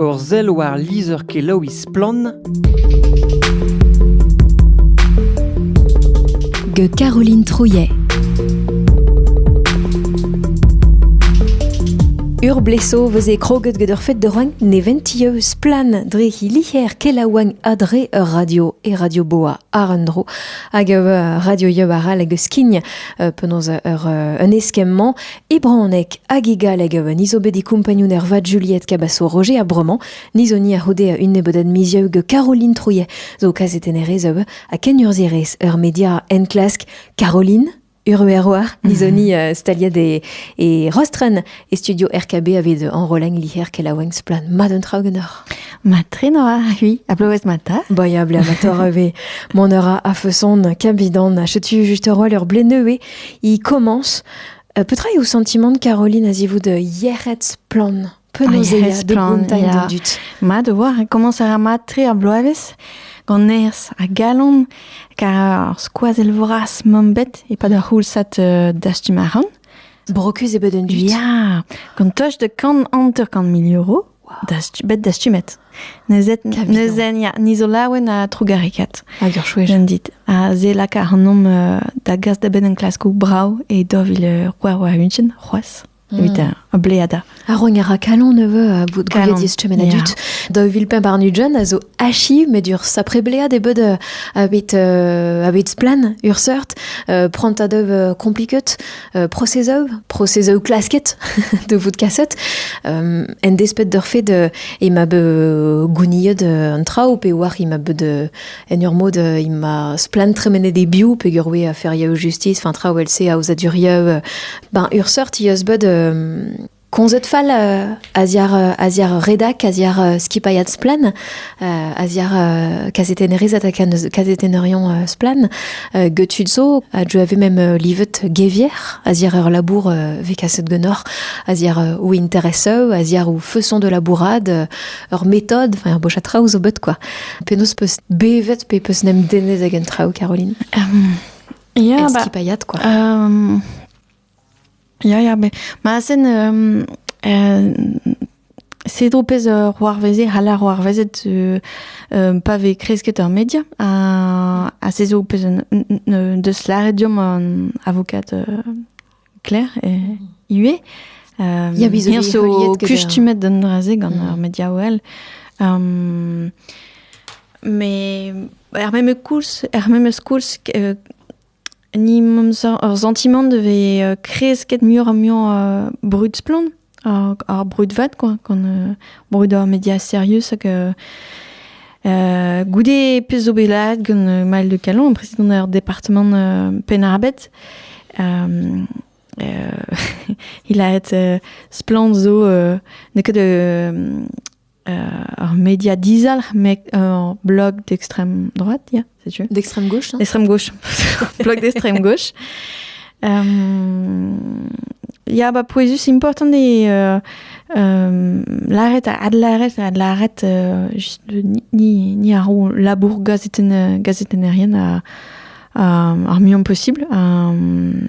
Ur sell war lizher-kelaouiñ Splann! gant Caroline Trouillet. Ur bleso vez e kroget gant ur fed de roagn neventio splan dre he liher kelaouagn adre ur radio e radio boa ar un dro hag ur radio yeubar all hag skign penaos ur un eskemm-mañ E bronneg hag e galleg a oa niz bet e kompagnun ervat Juliette Cabasso-Roger a bromañ, niz honi a c'houde un nebeudat mizieu gant Caroline Trouillet zo kaset en erez a oa ha kenurzhierez ur media enklask. Caroline Urueroar, nizoni uh, staliad e, e Rostren, e studio RKB aved enroleng liher kelaouenk splan mat un traoù genoc'h. Ma trenoa, oui, a bloez mata. Boya ble amator ave, mon eur a feson, kambidan, a chetu juste roal ur ble neuve, i commence Petra eo sentimant Caroline a-zivout yec'hed splann Penaos de Bretagne dut. Mat o war, komañs a ra mat-tre ar bloavezh gant nerzh ha galon, kar ar skoazell vras mamm bet e-pad ar c'houlsad uh, dastum a ran. Brokus e bed un dud. Ya, gant toch de kant hanter-kant mil euro bet dastumet. Neuzen, ya, ni zo laouen ha trugarekaat. Hag ur chouez. dit. Ha ze laka ac'hanomp uh, da gas da benn en klaskoù brao e dovil uh, c'hwar unchen, c'hoaz. Mm. Evit uh, bleada. Ar rogn a ra kalon neveu a bout gouiet distumen a dut. Da vil pemp ar Nudjon a zo achi met ur sapre blead e bed uh, a bet, uh, a bet splan ur seurt. Uh, prant a dev uh, compliquet prosezoù, prosezoù klasket de vout kaset, en desped d'ur fait de e ma be gouniet un traoù pe war e ma be de en ur mod e ma splan tremenet e bio pe ur we a ferioù justice, fin traoù else aozadurioù, ben ur seurt eus bet komzet fall a-ziar a-ziar redak, a-ziar skipailhad Splan, a-ziar kazetennerez ha kazetenerion Splan, getud zo a deu ave mem livet gevier, a-ziar ur labour vez kaset genoc'h, a-ziar ou intereseu, a-ziar ou feuson de labourad, ur metod, enfin ur boch a traoù zo bet quoi. Penaos peus bevet pe peus nem dennet ag an traoù, Caroline? Um, yeah, skipailhad quoi. Um, Ya, ya, bet. Ma sen euh, euh, Cedro pez euh, c'hoarveze, c'hall ar c'hoarvezet euh, euh, pa vez kresket ur media, ha, ha se zo pez un- un- un- deus lâret deomp an avokat euh, Claire euh, ivez. Euh, Ya, biz zo Hir bet zo heuliet get, kustumet d'an dra-se gant Mm. ar media OL. Um, me er memes koulz, er memes koulz euh, Ni 'meus ar santimant da vezañ kresket muioc'h-ha-muiañ brud-splann, ar brud vat quoi, gant brud ar media serius hag goude pezh zo bet laeret gant Maël de Callon, prezidant ar departamant Penn-ar-Bed, he laret splann zo n'eo ket Ar media dizalc'h, met ur blog d'extrême droite, yeah, setu. D'extrême gauche, hein D'extrême gauche, blog d'extrême gauche. Um, ja, ba pouezus important eo uh, um, lâret adlâret adlâret uh, just ni ni ar labour gazeten uh, gazetennerien uh, ar mion possible. Um,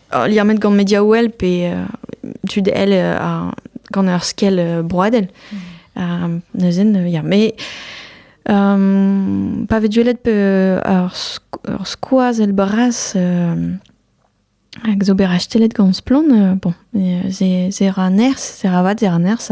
liammet gant Mediawell pe tud elle gant ur skell broadel. Mm. neuzen, ya, mais um, pa vez duellet pe ur skoaz el bras hag zo bet rastelet gant Splon, bon, se ra nerz, se ra vat, se ra nerz,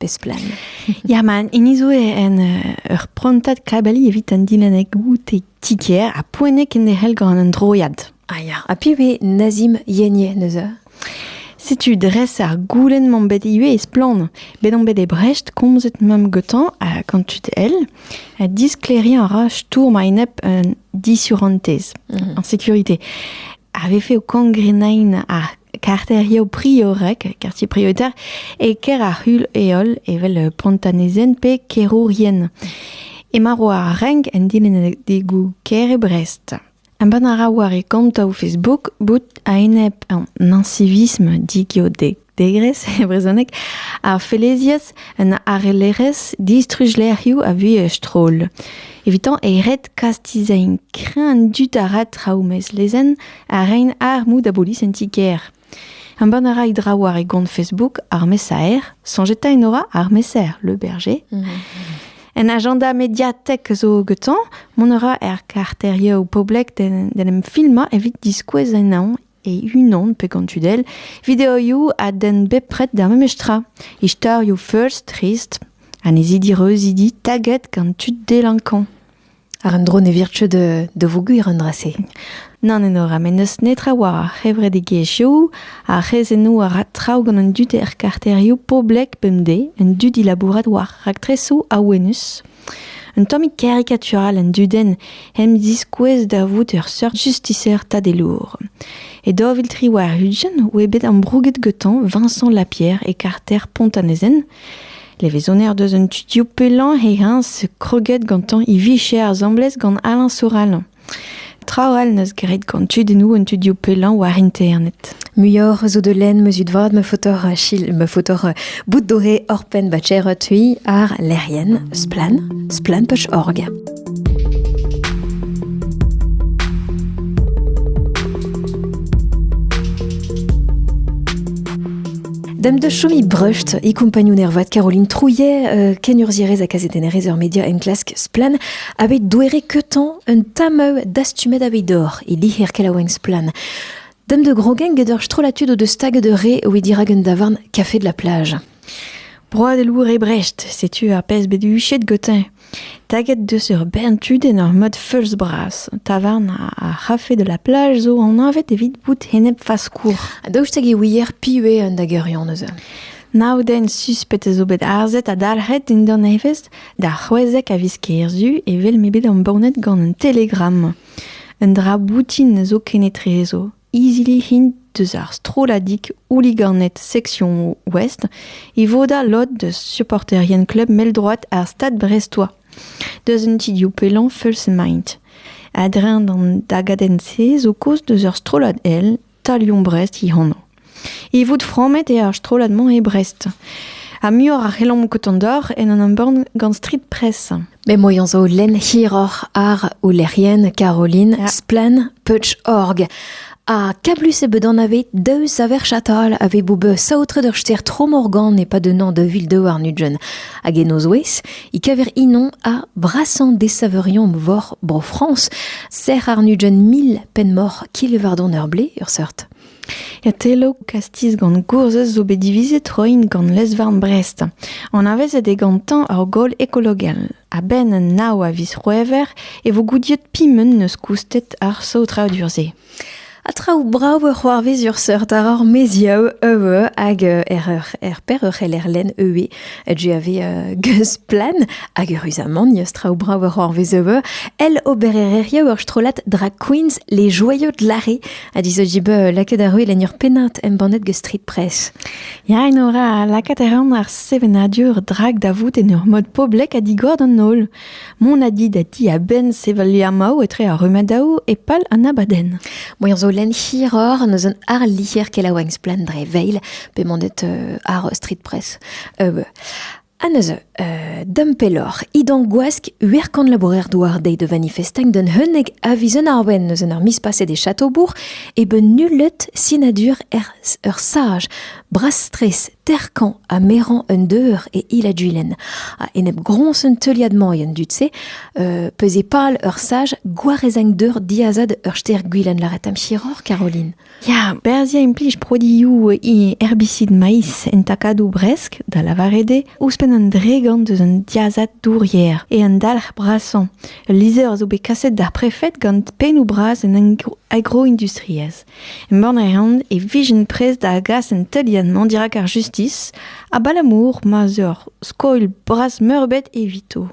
Besplan. Ya, man, hini zo en uh, ur prantad kabali evit an dilennek goute tiker ha poenek en ehel gant an droiad. Ah ya, ha pi ve Nazim Yenye neuze? Setu dres ar goulen m'am bet ivez e splann. Bet on bet e Brecht komzet mam gotan a quand tu el, a diskleriñ a ra stourm a-enep un disurantez, mm -hmm. en sécurité. Avait fait au cangrenain ar karterioù priorek, kartier prioritaire, e ker ar c'hul heol evel pontanezen pe kerourien. Emañ ro ar renk en dilennadegoù ker e Brest. Embann a ra war e kontoù Facebook bout a-enep an ancivisme digeodegres e brezhoneg, ar felezias un arellerezh distruj-lec'hioù a vuhez stroll. Evitañ e red kastizañ krenn dud a ra traoù mezlezenn a rein armoù da bolis en ti-kêr. Embann a ra e draoù war e gont Facebook ar mesaer, soñjeta en aura ar mesaer Le Berger. Mhm. En agenda mediatek zo getañ, mont a ra er karterioù poblek d'en em filmañ evit diskouez ennañ e unan pe gant tudel videoioù a den bepred d'ar memes tra. Istorioù first, trist, anezidi reuzidi taget gant tud delankañ. Ar un dro ne vir ket da voger an dra-se. Nann enora, met n'eus netra war ar c'hevredigezhioù, ar c'hrezennoù a ra traoù gant an dud er karterioù poblek bemdez, an dud dilabourat war raktresoù awenus. Un tammig karikatural an dudenn em ziskouez da vout ur seurt justiser tadelour. E daoviltri war Hudgen oa bet ambrouget gantañ Vincent Lapierre e karter Pont-an-Ezen. Levezoner deus an tutioù pellañ he-eñs kroget gantañ e vicher asambles gant Alain Soral. Traoù all neus graet gant tudennoù an tudioù pellañ war internet. Muioc'h zo de lenn meus ut vad ma fotor chil, ma fotor euh, bout doré orpen ba tcher tui ar lec'hienn splan, splan.org. Dam da chomi breust e kompagnon ervat Caroline Trouillet, euh, kenurzhierez ha kazetennerez ur media enklask Splan, bet douere keutañ un tameu dastumet aveit dor e liher kelaouenn Splan. Dam de grogen get ur strollatud o deus stag de re oe dirak un davarn kafe de la plage. Broad e lour e Brecht, setu ar pezh bet huchet gotin. Taget deus ur bern tudenn ur mod feulz-bras. Tavarn ar c'hafe de la plage zo anavet evit bout enep-faskour. Ha daoust hag e ouier piv eo an dageurion eus Nav den suspet a zo bet arzet ha dalc'het dindan evezh d'ar c'hwezek a viz kerzu evel m'eo bet embannet gant un telegramm. Un dra boutin zo kenetrezo. Izili int deus ar strolladig houliganed seksion Ouest e vodañ lod deus supporterien klub mell-droad ar Stad Brestois, deus un ti-div pellañ feuls-emaint. A-dreñv d'an dagadenn-se zo kaoz deus ur strollad èl Talion Brest he anv. E vout frammet eo ar strollad-mañ e Brest. Ha muioc'h a c'hellomp kontañ deoc'h en un embann gant Street Press. M'emañ zo lenn hiroc'h àr o lec'hienn Caroline Splann Peutz-Org. Ha kablus eo bet anavet daou saver chatal a vez bout bet saotret ur stêr Tromorgan e-pad un an da vil daouarn ugent. Hag en o zouez, e kaver inoñ ha brasañ desaveurion vor Bro-Frañs. Sec'h àr nugent mil penn-moc'h Kilevardon-ar-Blez, ur seurt. Otelloù, kastiz gant gourzhez zo bet divizet roiñ gant lez-varn Brest. Anavezet eo gantañ ur gaol ekologel. A-benn nav a viz C'hwevrer e vo goudiet piment n'eus koustet ar saotradur-se. Ha traoù brav a c'hoarvez ur seurt àr ar maezioù euv hag er, er per ur c'heller lenn euv GAV Geusplan hag eüruzamant n'eus traoù brav a c'hoarvez euv el obererezhioù ur strollad drag queens Les Joyaux de l'Arrée ha dizo dibeu euh, lakaet ar ruil en ur pennad embannet gant Street Press. Ya, en ora, lakaat a ran ar sevenadur drag da vout en ur mod poblek ha digor d'an holl. Mon a dit da ti a-benn sevel liamaou etre ar rumadaou e pal an abadenn. Boan zo len hiror neus un ar lier kelaouenk splendre veil, pe mandet euh, ar Street Press. Euh, Ha neuze, euh, da'm pelloc'h, idan gwask uerkan labourer douar dezhi da vanifestañ d'un unnek a viz un arbenn eus en ur miz paset e Chateaubourg e ben nullet sinadur er ur saj brastres terkañ ha merañ un deur e Ila-Duilen. Ha enep groñs un teuliad-mañ en dud-se, euh, peus e pal ur saj gwarezagn deur diazad ur ster gwilen laret am chiroc'h, Caroline. Ya, berzhiañ implij produioù herbicide maiz en takadoù bresk, da lavaret eo, ouzhpenn an dregont eus an diazad dourier e an dalc'h brasañ. Ul lizher a zo bet kaset d'ar prefed gant pennoù bras an agroindustriezh. Embann a reont e vijent prest da gas an teuliad-mañ dirak ar justis, abalamour ma 'z eur skoilh bras-meurbet evito.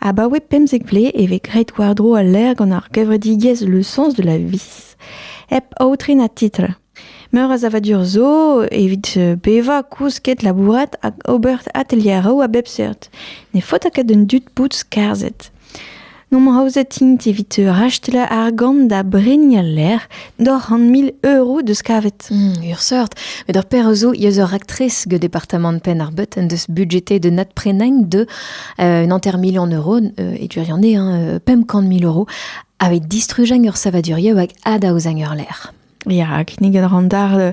Abaoe pemzek vlez e vez graet war-dro al lec'h gant ar gevredigezh Le Sens de la Vie, hep aotren ha titl. Meur a savadur zo evit bevañ, kousket, labourat hag ober atelieroù a bep seurt. Ne faota ket d'an dud bout skarzhet. N'omp aozet int evit rachetal argant da bregnañ lec'h Doc'h an mil euro deus kavet. Hmm, ur seurt. Met ur per zo eus ur raktres gant departamant Penn-ar-Beut en deus budgeté de nat prenain de euh, un enter million euro, euh, et tu en hein, pemp kant mil euros, avec distrugen ur savadurieu avec adaouzang ur l'air. Ja, kinniget ran dar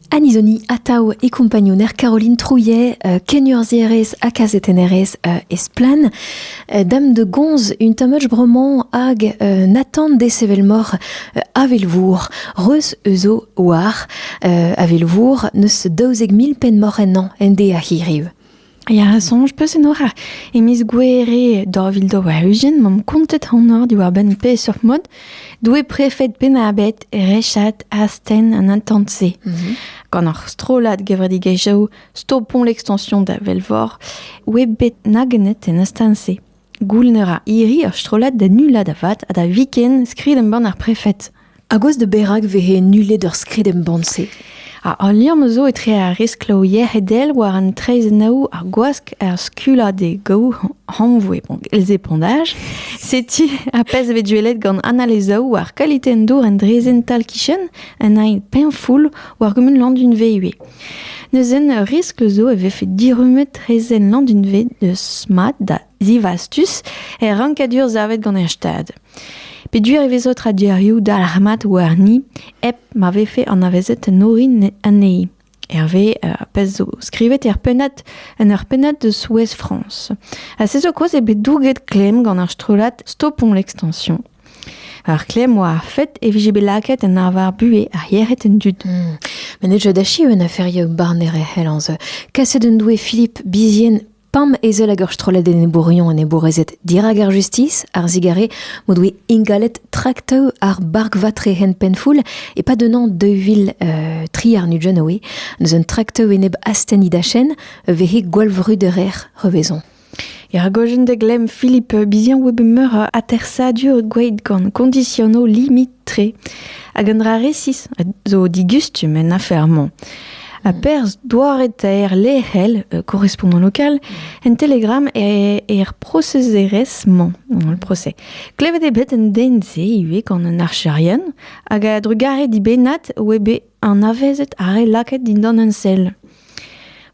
Anizoni atav e kompagnouner Caroline Trouillet, euh, kenurzhierez ha kazetennerez euh, Esplan. Euh, dame de gonz, un tamach bromant hag euh, Nathan desevel-mor euh, avelvour, reus euzo war avelvour neus daouzek mil penn mor ennañ ende a hiriv. Ya, soñj peus enor e miz Gouere daou vil daou-ugent m'omp kontet anor diwar-benn peseurt mod doe prefed Penn-ar-Bed rechat astenn an intant-se. Mhm. Gant ar strollad gevredigezhioù Stopont l'extension da Velvor oe bet nagennet en astenn-se. Gouln a ra hiri ur strollad da nullañ da vat ha da viken skrid-embann ar prefed. A gouez da berak vehe nullet ur skrid-embann-se? Ha al liamm zo etre ar riskloù yec'hedel war an traezhennoù, ar gwask, ar skullañ d'e gaou hanvoe epondaj. Setu ar pezh bet duellet gant Anna Lezaou war kalite an dour en draezhenn tal-kichen, un aen peñfoul war gumun Landunve ivez. Neuzen, ur riskl zo e vefe dirummet traezhenn Landunved eus mat da zivastus er rankadur savet gant er Stad. Peduer e vezo tradurioù dalc'hmat warni hep ma vefe anavezet an orin anezhi. Hervé euh, a pez zo skrivet er pennad en ur pennad de Souez France. Ha se zo quoi e bet douget klemm gant ar strollad Stopons l'extension Ar klemm oa ar fed e vije bet lakaet en arvar buhez ar yec'hed en dud. Hmm. Met ne deu da achi un aferioù barner e c'hellañs. Kaset en doe Philippe Bizien pam ezel hag ur strollad enebourion enebourezed dirak ar justis, ar zigare m'o doe ingalet traktoù ar barkvatre hen penfoul e-pad un an 2000 euh, tri ar Nujanoe, eus un traktoù enep astenni dachenn, vehe gwallvruderer revezon. Er gojenn da glemm Philippe biziañ oa bet meur a atersadur gweet gant kondisionoù limit-tre hag un dra resis zo digustum en afer-mañ. Ha perzh doare-taer lec'hel korrespondant lokal en Telegram er prosezerezh-mañ. Le procès. Klevet eo bet un den-se ivez gant un archerien hag a-drugarez dibennat oa bet anavezet ar re lakaet dindan ensell.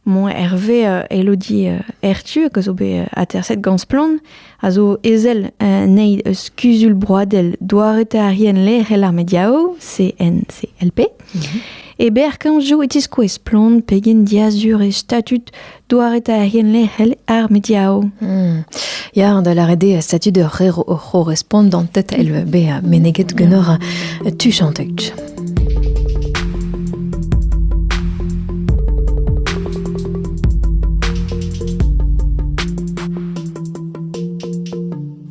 Moñ Hervé euh, Elodie euh, Hertu, que zo bet euh, aterset gant Splann, a zo ezel nei eus Kuzul Broadel doaretarien lec'hel ar mediao, CNCLP. Mhm. E ber kanjo e tiskoe Splann pegen diazur e statut Doaretaerien lec'hel ar mediaoù. Hmm. Ya, da lâret eo statut ur rer o c'horrespont d'an tête el bezañ meneget ganeoc'h tu chantek.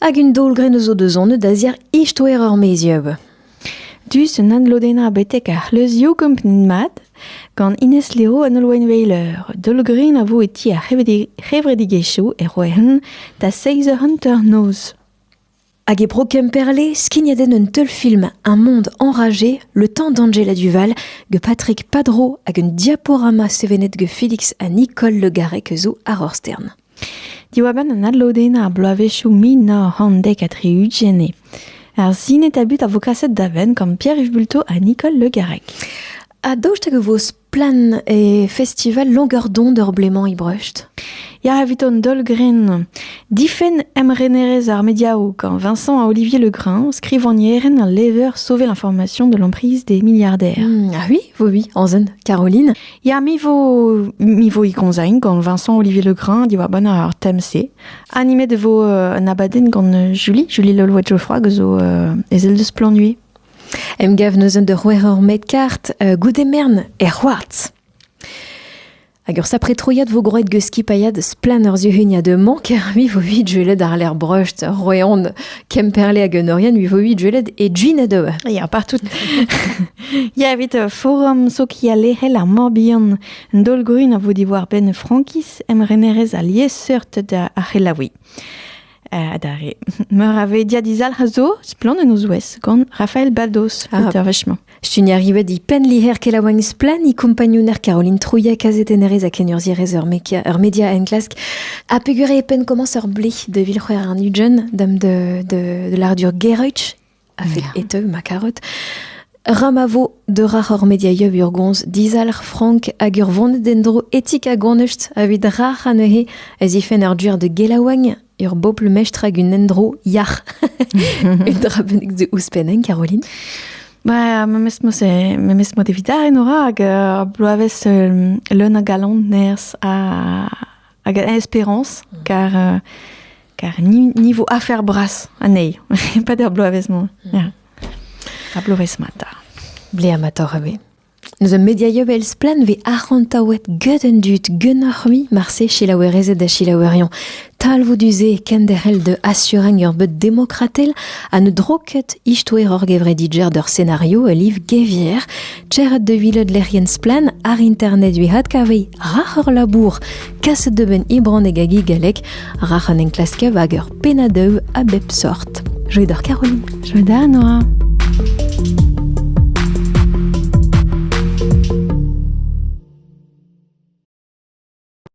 Hag un daol-grenn zo deus anvet da-ziàr istoer ur mezieub. Dus un adlodennañ betek ar c'hleuzioù kompren mat gant Ines Leo an Holwenweiler. Daol-grenn a vo e ti ar c'hevredigezhioù e Rouen da seizh eur hanter-noz. Hag e Bro Kemperle, skignet en un teulfilm Un monde enragé, le temps d'Angela Duval, que Patrick Padro hag un diaporama sevenet que Félix ha Nicole Le Garrec zo àr ur stern. Diwar-benn an adlodennañ ar bloavezhioù mil nav c'hant dek ha tri-ugent eo ar sinetabu a vo kaset da benn gant Pierre-Yves Bulto ha Nicole Le Garrec. Ha daoust hag e vo splann e festival Longueur-d'onde ur blez-mañ e Brecht Ya evit an daol-grenn. Difenn emrenerezh ar mediaoù gant Vincent ha Olivier Legrin, skrivagnerenn ha lever Sauver l'information de l'emprise des milliardaires. Hmm, ah oui, oui, oui, en zen, Caroline. Ya, mi vo, mi vo ikonzain gant Vincent Olivier Legrain diwar ban ar tem-se. Animet e vo euh, un abadenn gant euh, Julie, Julie Lolwe Geoffroy, zo euh, ezel deus Planui. Emgav neuzen de c'houer ur med kart euh, goude mern er c'hoartz. Hag ur sapre troiad vo groet geus skipailhad splan ur zuhuniañ de mank, mi vo vid jueled ar ler breust, roeon, kemperle hag un orien, mi vo vid jueled e gin a deue. Ya, partout. Ya, evit uh, forum sokialerel ar Morbihan, un daol-grun a vo diwar-benn Frankiz, emrenerez ha liesseurt da ar c'helaouiñ. Uh, adarre. Meur a ve diadizalc'h a zo, splann en o zouez, gant Rafael Baldos, ah. auteur vechement. Stun arrivet di pen liher kelaouagn splan i kompagnouner Caroline Trouillet kazetennerez a kenurzierez ur media, ur media enklask a pegure e pen komañs ur blih de vil c'hwer an ujen dam de, de, de l'ardur Gereutch a-fet e teu ma karet. Ra ma vo deurac'h hor mediaioù urgons dizalc'h frank hag ur vont d'en-dro etik ha gonust evit rac'h anezhe a zifen ur duer de gelaouagn, ur bobl mestr hag un endro yac'h. Un dra bennak de ouzhpenn, Caroline Ba, memes mod, memes mod evit ar en ora hag uh, bloavezh uh, leun a galon nerz ha hag a espérance, car euh, car niveau affaire brasse anezhi, pas der bloavezh-mañ. Mm. A bloavezh-mata. Ble amator ave. Nous a mediaio vel splan ve arc'hantaouet get an dud genoc'h-mi marse chilaouerezed da chilaouerion. Talvou duze kenderc'hel de assureng ur bet demokratel a ne droket istoer ur gevredidjer d'ur scenario a liv gevier Tec'het da welet lec'hienn Splann ar internet evit adkaviñ rac'h ur labour kaset da benn e bronneg hag e galleg rac'h an enklasker hag ur pennadev a bep sort. Joie d'or Caroline. Joie da Noa.